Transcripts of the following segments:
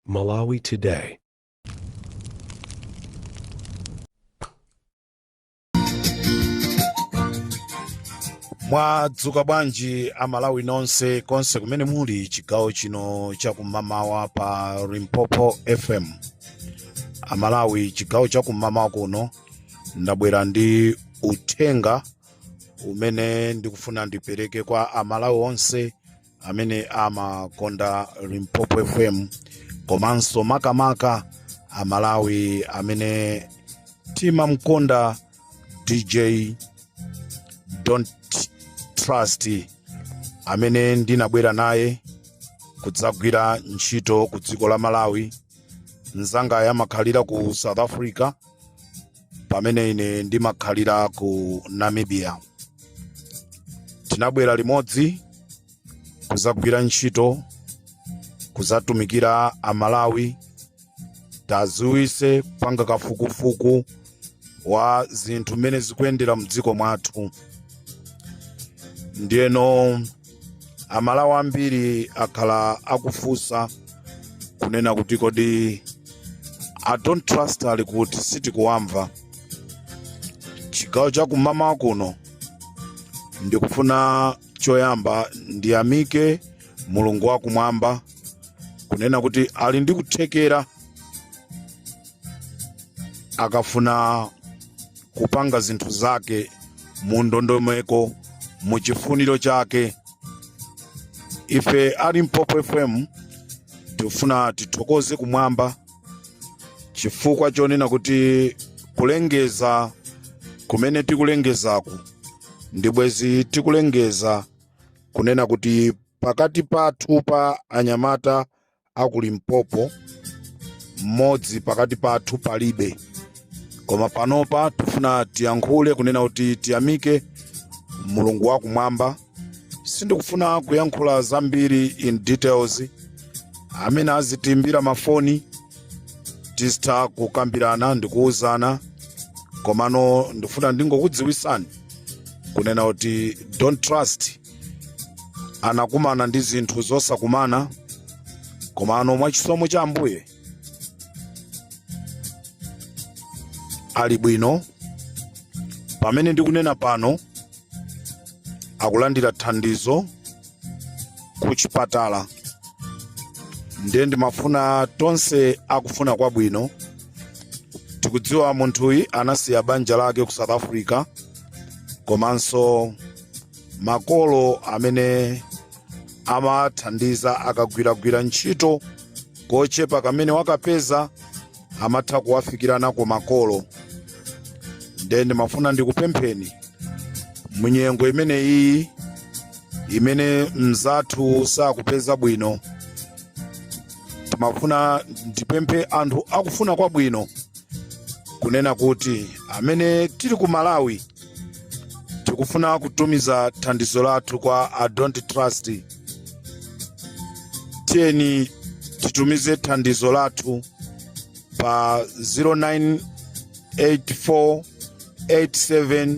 Malawi Today. mwadzuka bwanji amalawi nonse konse kumene muli chigawo chino chakum'mamawa pa limpopo fm amalawi chigawo chakum'mamawa kuno ndabwera ndi uthenga umene ndikufuna ndipereke kwa amalawi onse amene amakonda limpopo fm komanso makamaka amalawi amene timamkonda dj don't trust amene ndinabwera naye kudzagwira ntchito ku dziko la malawi mzangayo amakhalira ku south africa pamene ine ndimakhalira ku namibia tinabwera limodzi kuzagwira ntchito kuzatumikira amalawi kudzawise panga kafukufuku wa zinthu mmene zikuyendera mdziko mwathu ndiyeno amalawi ambiri akhala akufunsa kunena kuti kodi a don't trust ali kuti sitikuwamva chigawo chakum'mamawa kuno ndikufuna choyamba ndiyamike mulungu wakumwamba kunena kuti ali ndi kuthekera akafuna kupanga zinthu zake mu ndondomeko mu chifuniro chake ife a limpopo fm tikufuna tithokoze kumwamba chifukwa chonena kuti kulengeza kumene tikulengezaku ndibwenzi tikulengeza kunena kuti pakati pathu pa anyamata a ku limpopo mmodzi pakati pathu palibe koma panopa tifuna tiyankhule kunena kuti tiyamike mulungu wakumwamba sindikufuna kuyankhula zambiri in details amene azitiimbira mafoni tizitha kukambirana ndikuwuzana komano ndifuna ndingokudziwisani kunena kuti don't trust anakumana ndi zinthu zosakumana komano mwa chisomo cha ambuye ali bwino pamene ndikunena pano akulandira thandizo ku chipatala ndiye ndimafuna tonse akufuna kwabwino tikudziwa munthuyi anasiya banja lake ku south africa komanso makolo amene amathandiza akagwiragwira ntchito kochepa kamene wakapeza amatha kuwafikira nako makolo nde ndimafuna ndikupempheni munyengo imeneyi imene mzathu sakupeza bwino ndimafuna ndipemphe anthu akufuna kwabwino kunena kuti amene tili ku malawi tikufuna kutumiza thandizo lathu kwa a don't trust tiyeni titumize thandizo lathu pa 098487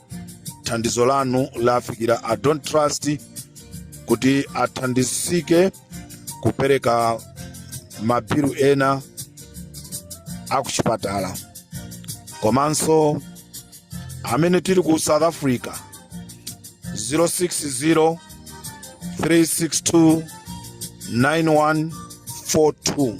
thandizo lanu lafikira a don't trust kuti athandizike kupereka mabilu ena akuchipatala komanso amene tili ku south africa 060 362 9142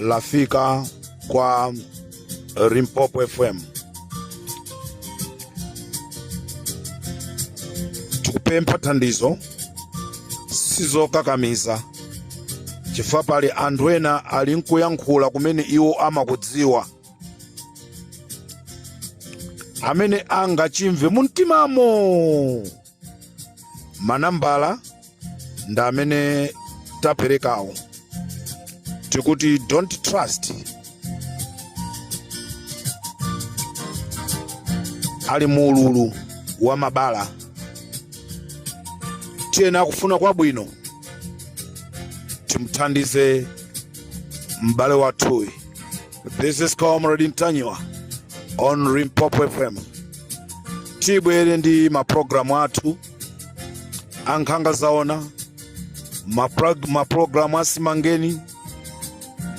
lafika kwa Limpopo FM. Tikupempha thandizo sizokakamiza chifukwa pali anthu ena ali nkuyankhula kumene iwo amakudziwa amene angachimve mumtimamo manambala ndi amene taperekawo tikuti don't trust ali mu ululu wa mabala tiyeni akufuna kwabwino timuthandize m'bale wathuyu This is Comrade Ntanyiwa on Limpopo FM. Tibwere ndi maprogramu athu ankhanga zaona maprog- maprogramu asimangeni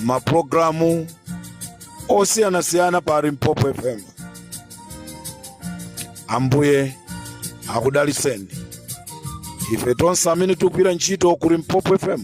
maprogramu osiyanasiyana pa Limpopo FM. Ambuye akudaliseni ife tonse amene tikugwira ntchito ku Limpopo FM.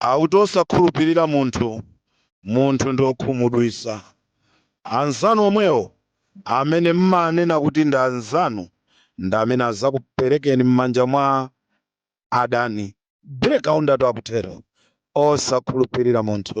akuti osakhulupirira munthu munthu ndi okhumudwisa anzanu omwewo amene mmanena kuti ndi anzanu ndi amene azakuperekeni m'manja mwa adani. Black Kaundatu akutero osakhulupirira munthu.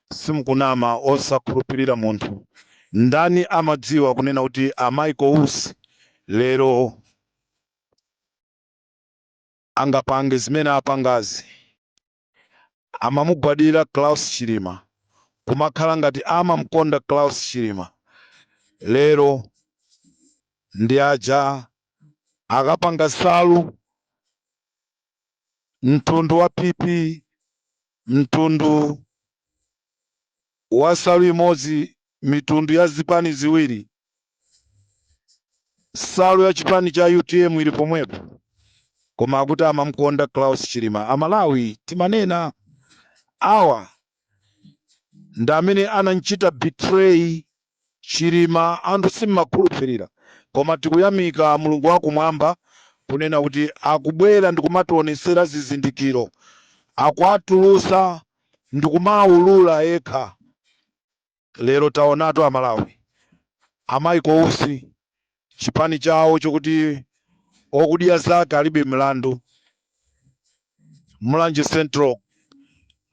Simukunama osakhulupilira munthu ndani amadziwa kunena kuti a Michael Usi lero angapange zimene apangazi amamugwadira Klaus Chilima kumakhala ngati amamkonda Klaus Chilima lero ndi aja akapanga nsalu mtundu wa PP, mtundu wa nsalu imodzi, mitundu ya zipani ziwiri, nsalu ya chipani cha utm ili pomwepo, koma akuti amamkonda Klaus Chilima. Amalawi timanena awa ndi amene anamchita betray chilima anthu si omakhulupilira koma tikuyamika mulungu wakumwamba kunena kuti akubwera ndikumationesera zizindikiro akuatulusa ndikumaulula ekha. Lero taonatu amalawi a Michael Usi chipani chawo chokuti odya zake alibe mlandu mulanje central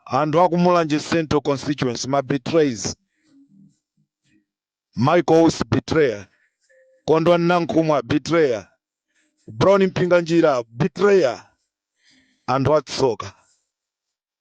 anthu aku mulanje central constituency ma betrayers michael usi betrayer kondwani nankhumwa betrayer brown mpinganjira betrayer anthu atsoka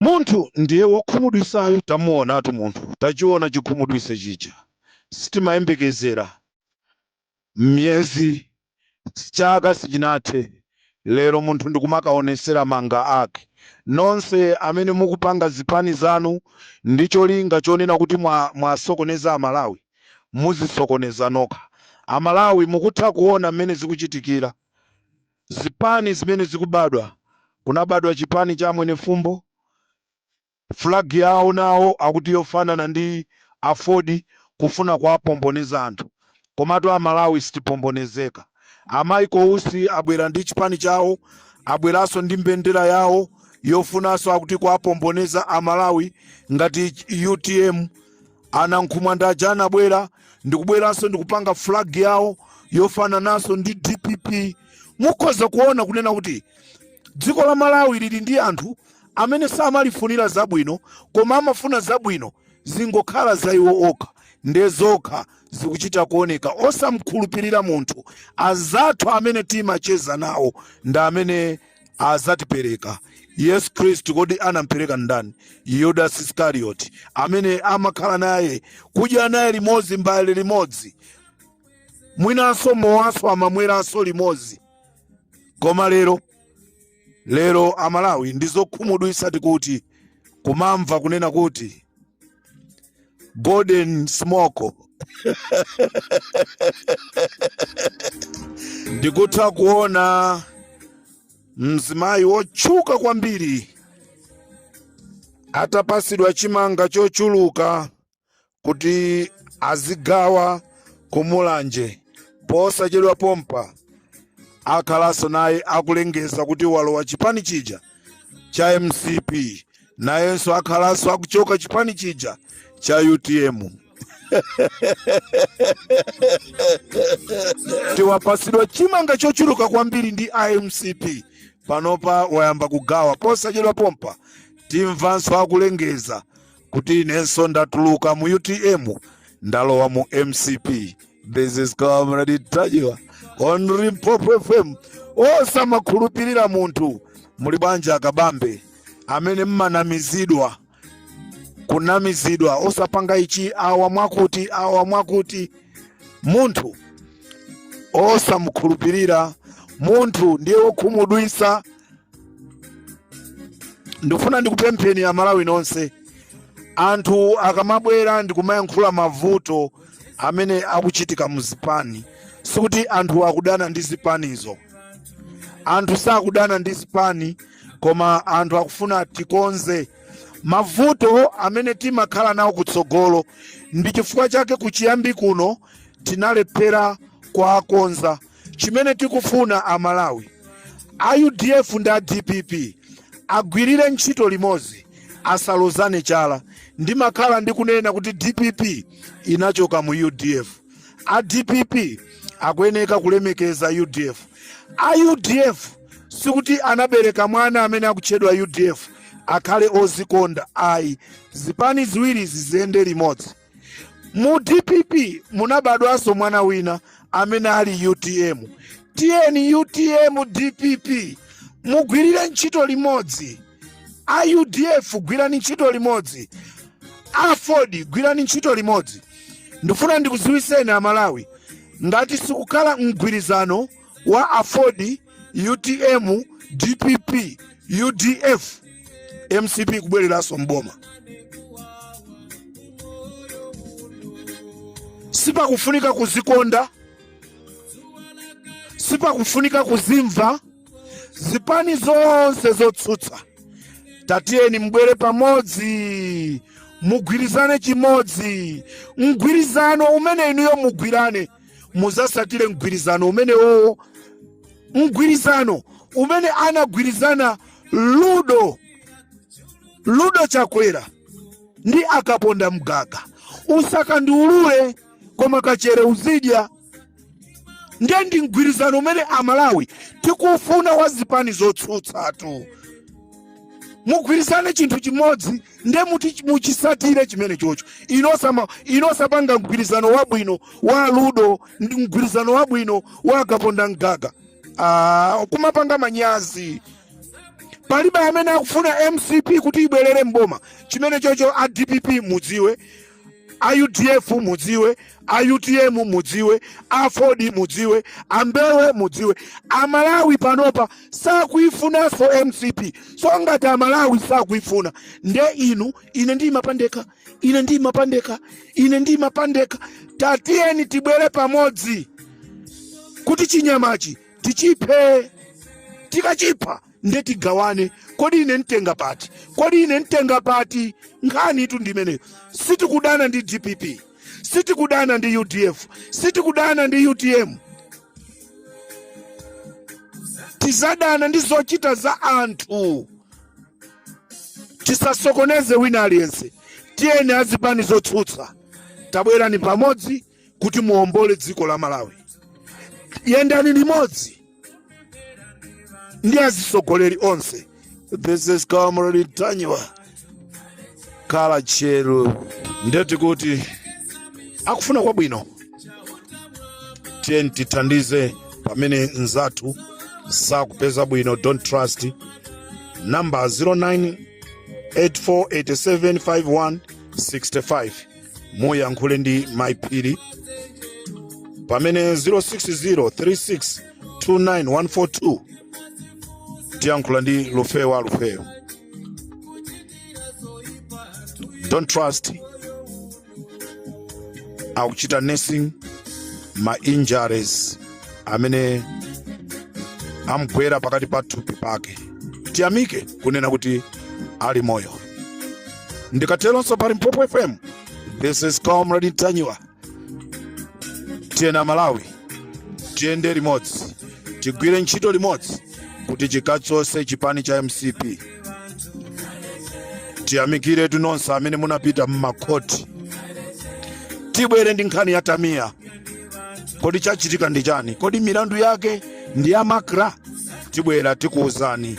Munthu ndiye wokhumudwitsayo tamuonatu munthu tachiona chikhumudwitse chija sitimayembekezera miyezi chaka sichinathe lero munthu ndikumakaonetsera mawanga ake nonse amene mukupanga zipani zanu ndi cholinga chonena kuti mwasokoneza amalawi muzisokoneza nokha amalawi mukutha kuona mmene zikuchitikira zipani zimene zikubadwa kunabadwa chipani cha a mwenifumbo flag yawo nawo akuti yofanana ndi aford kufuna kuwapomboneza anthu komatu amalawi sitipombonezeka. A Michael Usi abwera ndi chipani chawo, abweranso ndi mbendera yawo yofunanso akuti kuwapomboneza a Malawi ngati utm. A Nankhumwa ndi aja anabwera ndikubweraso ndikupanga flag yawo yofananaso ndi dpp. Mukhoza kuona kunena kuti dziko la Malawi lili ndi anthu amene samalifunira zabwino koma amafuna zabwino zingokhala za iwo okha nde zokha. zikuchita kuoneka osamkhulupirira munthu anzathu amene timacheza nawo ndi amene azatipereka yesu khristu kodi anampereka ndani yudas iskarioti amene amakhala naye kudya naye limodzi mbale limodzi mwinanso mowanso amamweranso limodzi koma lero lero amalawi ndi zokhumudwitsa tikati kumamva kunena kuti golden smoko ndikutha kuona mzimayi wotchuka kwambiri atapasidwa chimanga chochuluka kuti azigawa kumulanje posachedwa pompa akhalanso naye akulengeza kuti walowa chipani chija cha mcp nayenso akhalanso akuchoka chipani chija cha utm ati wapasidwa chimanga chochuluka kwambiri ndi amcp panopa wayamba kugawa posachedwa pompa timvanso akulengeza kuti inenso ndatuluka mu utm ndalowa mu mcp this is comrade ntanyiwa on limpopo fm osamakhulupirira munthu muli banja akabambe amene mmanamizidwa kunamizidwa osapanga ichi awa mwakuti awa mwakuti munthu osamukhulupirira munthu ndiye wokhumudwisa ndikufuna ndikupempheni amalawi nonse anthu akamabwera ndikumayankhula mavuto amene akuchitika mu zipani sikuti anthu akudana ndi zipanizo anthu sakudana ndi zipani koma anthu akufuna tikonze mavuto amene timakhala nawo kutsogolo ndi chifukwa chake kuchiyambi kuno tinalephera kuwakonza Chimene tikufuna a Malawi, a udf ndi a dpp agwirire ntchito limodzi asalozane chala. Ndimakhala ndikunena kuti dpp inachoka mu udf. A dpp akuyeneka kulemekeza udf. A udf sikuti anabereka mwana amene akutchedwa udf akhale ozikonda ayi. Zipani ziwiri ziziyende limodzi. mu dpp munabadwanso mwana wina amene ali utm tiyeni utm dpp mugwirire ntchito limodzi a udf gwirani ntchito limodzi aford gwirani ntchito limodzi ndifuna ndikuziwiseni amalawi ngati sikukhala mgwirizano wa aford utm dpp udf mcp kubwereranso mboma sipakufunika kuzikonda sipakufunika kuzimva zipani zonse zotsutsa tatiyeni mbwere pamodzi mugwirizane chimodzi mgwirizano umene inuyo mugwirane muzasatire mgwirizano umenewowo mgwirizano umene anagwirizana ludo ludo chakwera ndi akaponda mgaga usakandiulure koma kachere uzidya ndiye ndi mgwirizano umene amalawi tikufuna wa zipani zotsutsatu mugwirizane chinthu chimodzi nde muti muchisatire chimene chocho inosama inosapanga mgwirizano wabwino wa aludo ndi mgwirizano wabwino wa akaponda mgaga ah, kumapanga manyazi palibe amene akufuna mcp kuti ibwerere mboma chimene chocho a dpp mudziwe a udf mudziwe a utm mudziwe a aford mudziwe a mbewe mudziwe amalawi panopa sakuifunanso mcp so ngati amalawi sakuifuna nde inu ine ndimapandeka ine ndimapandeka ine ndimapandeka tatiyeni tibwere pamodzi kuti chinyamachi tichiphe tikachipha nde tigawane kodi ine ntenga pati kodi ine ntenga pati nkhanitu ndimeneyo sitikudana ndi dpp sitikudana ndi udf sitikudana ndi utm tizadana ndi zochita za anthu tisasokoneze wina aliyense tiyeni azipani zotsutsa tabwerani pamodzi kuti muombole dziko la malawi yendani limodzi ndi azisogoleri onse this is comrade ntanyiwa khala tcheru nde tikuti akufuna kwabwino tiyeni tithandize pamene mzathu sakupeza bwino don't trust number 0984875165 muyankhule ndi mai phiri pamene 0603629142 tiyankhula ndi lufeyo a lufeyo don't trust akuchita nursing ma injuries amene amgwera pakati pa thupi pake tiyamike kunena kuti ali moyo ndikateronso pa limpopo fm this is comrade ntanyiwa tiyeni amalawi tiyende limodzi tigwire ntchito limodzi kuti tikachotse chipani cha mcp tiyamikire inu nonse amene munapita mmakhoti tibwere ndi nkhani ya tamiya kodi chachitika ndi chani kodi milandu yake ndi ya makra tibwera tikuwuzani